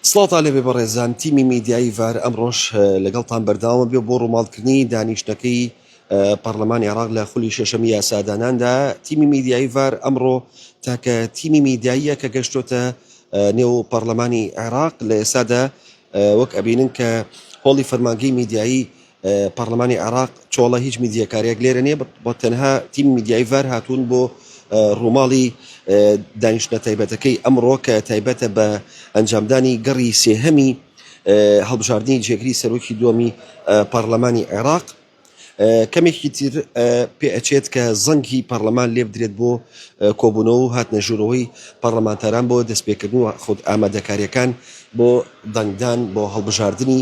سڵاوتان لێبێ بەڕێزان تیمی میدیایی ڤار ئەمڕۆش لەگەڵتان بەرداوامە بێ بۆ ڕووماڵکردنی دانیشتەکەی پەرلەمانی عراق لە خولی شەشەمی یاساداناندا تیمی میدیایی ڤار ئەمڕۆ تاکە تیمی میدیاییە کە گەشتۆتە نێو پەرلەمانی عێراق لە ئێسادا وەک ئەبینن کە هۆڵی فەرمانگەی میدیایی پارلمانی عێراق چۆڵە هیچ میدیەکارێک لێرە نیە بە تەنها تیم میدیای ڤار هاتوون بۆ ڕووماڵی دانیشتە تایبەتەکەی ئەمڕۆ کە تایبەتە بە ئەنجامدانی گەڕی سێهەمی هەڵبژاردننی جێگری سەرۆکی دومی پارلمانی عێراق کەمێکی تر پێ ئەچێت کە زەنگی پەرلەمان لێبدرێت بۆ کۆبوونەوە و هاتنە ژوورەوەی پەرلەمانتاران بۆ دەستپێکردن و خود ئامادەکاریەکان بۆ دەنگدان بۆ هەڵبژاردننی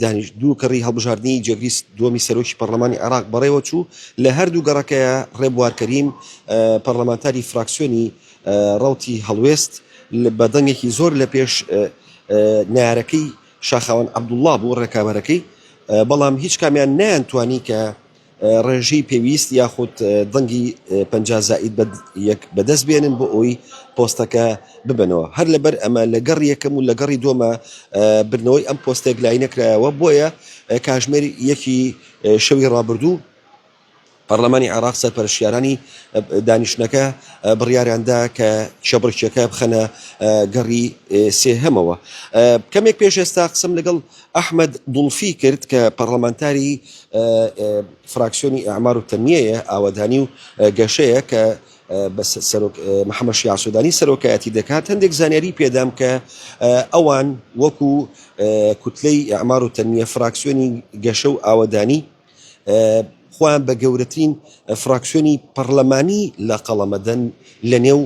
دانیشت دوو کەڕی هەڵبژاردنی جێگری دووەمی سەرۆکی پەرلەمانی عێراق بەڕێوە چوو لە هەردوو گەڕەکەیە ڕێبوار کەریم پەرلەمانتاری فراکسیۆنی ڕەوتی هەڵوێست بە دەنگێکی زۆر لە پێش نارەکەی شاخاوان عەبدوڵڵا بوو ڕێکابەرەکەی بەڵام هیچ کامیان نیان توانی کە ڕێژەی پێویست یاخود دەنگی پەنجا زائید بە یەک بەدەست بێنن بۆ ئەوی پۆستەکە ببنەوە هەر لەبەر ئەمە لە گەڕ یەکەم و لە گەڕی دۆمە بردنەوەی ئەم پۆستێک لای نەکرایەوە بۆیە کاژمێر یەکی شەوی ڕابردوو پەرلەمانی عێراق سەرپەرشیارانی دانیشتنەکە بڕیاریاندا کە شەبڕکیەکە بخەنە گەڕی سێهەمەوە کەمێک پێش ئێستا قسم لەگەڵ ئەحمەد دڵفی کرد کە پەڕڵەمانتاری فراکسیۆنی ئیعمار و تەنمیەیە ئاوەدانی و گەشەیە کە بە سەرۆک محەممەد شیاع سوودانی سەرۆکایەتی دەکات هەندێک زانیاری پێدام کە ئەوان وەکو کوتلەی ئیعمار و تەنمیە فراکسیۆنی گەشە و ئاوەدانی خۆیان بە گەورەترین فراکسیۆنی پەڕلەمانی لە قەڵەمەدەن لە نێو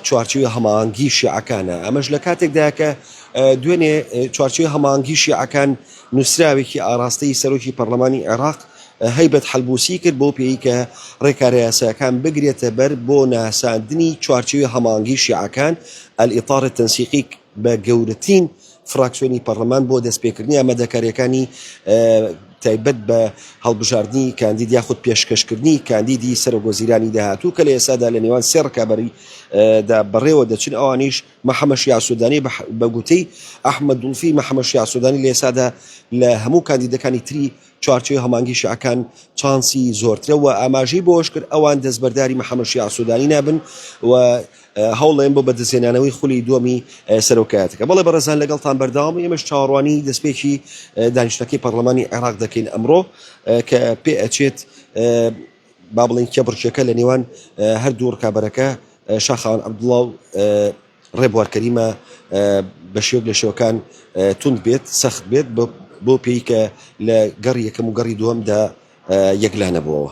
چوارچوی هەماهەنگی شیعەکانە ئەمەش لە کاتێکدا کە دوێنێ چوارچوی هەماهەنگی شیعەکان نووسراوێکی ئاراستەی سەرۆکی پەرلەمانی عێراق هەیبەت حلبوسی کرد بۆ پێی کە ڕێکارە یاساکان بگرێتە بەر بۆ ناساندنی چوارچوی هەماهەنگی شیعەکان ئەلئیطار تەنسیقی بە گەورەترین فراکسیۆنی پەڕلەمان بۆ دەستپێکردنی ئامادەکارییەکانی تایبەت بە هەڵبژاردنی کاندید یاخود پێشکەشکردنی کاندیدی سەرۆکوەزیرانی داهاتوو کە لە ئێستادا لە نێوان سێ ڕکابەری دا بەڕێوە دەچن ئەوانیش محەممەد شیاع سوودانی بە گوتەی ئەحمەد دوڵفی محەممەد شیاع سوودانی لە ئێستادا لە هەموو کاندیدەکانی تری چوارچێوەی هەمانگی شیعەکان چانسی زۆرترە و ئاماژەی بەوەش کرد ئەوان دەستبەرداری محەممەد شیاع سوودانی نابن و هەوڵدەین بۆ بەدەستهێنانەوەی خولی دووەمی سەرۆکایەتەکە. بەڵێ بەڕێزان لەگەڵتان بەردەوامین، ئێمەش چاوەڕوانی دەستپێکی دانیشتنەکەی پەڕڵەمانی عێراق دەکەین ئەمڕۆ کە پێ ئەچێت با بڵێین کێبڕکێکە لە نێوان هەردوو ڕکابەرەکە شاخەوان عەبدوڵڵا و ڕێبوار کەریمە بە شێوک لە شێوەکان توند بێت سەخت بێت بۆ پێی کە لە گەڕی یەکەم و گەڕی دووەمدا یەکلا نەبووەوە.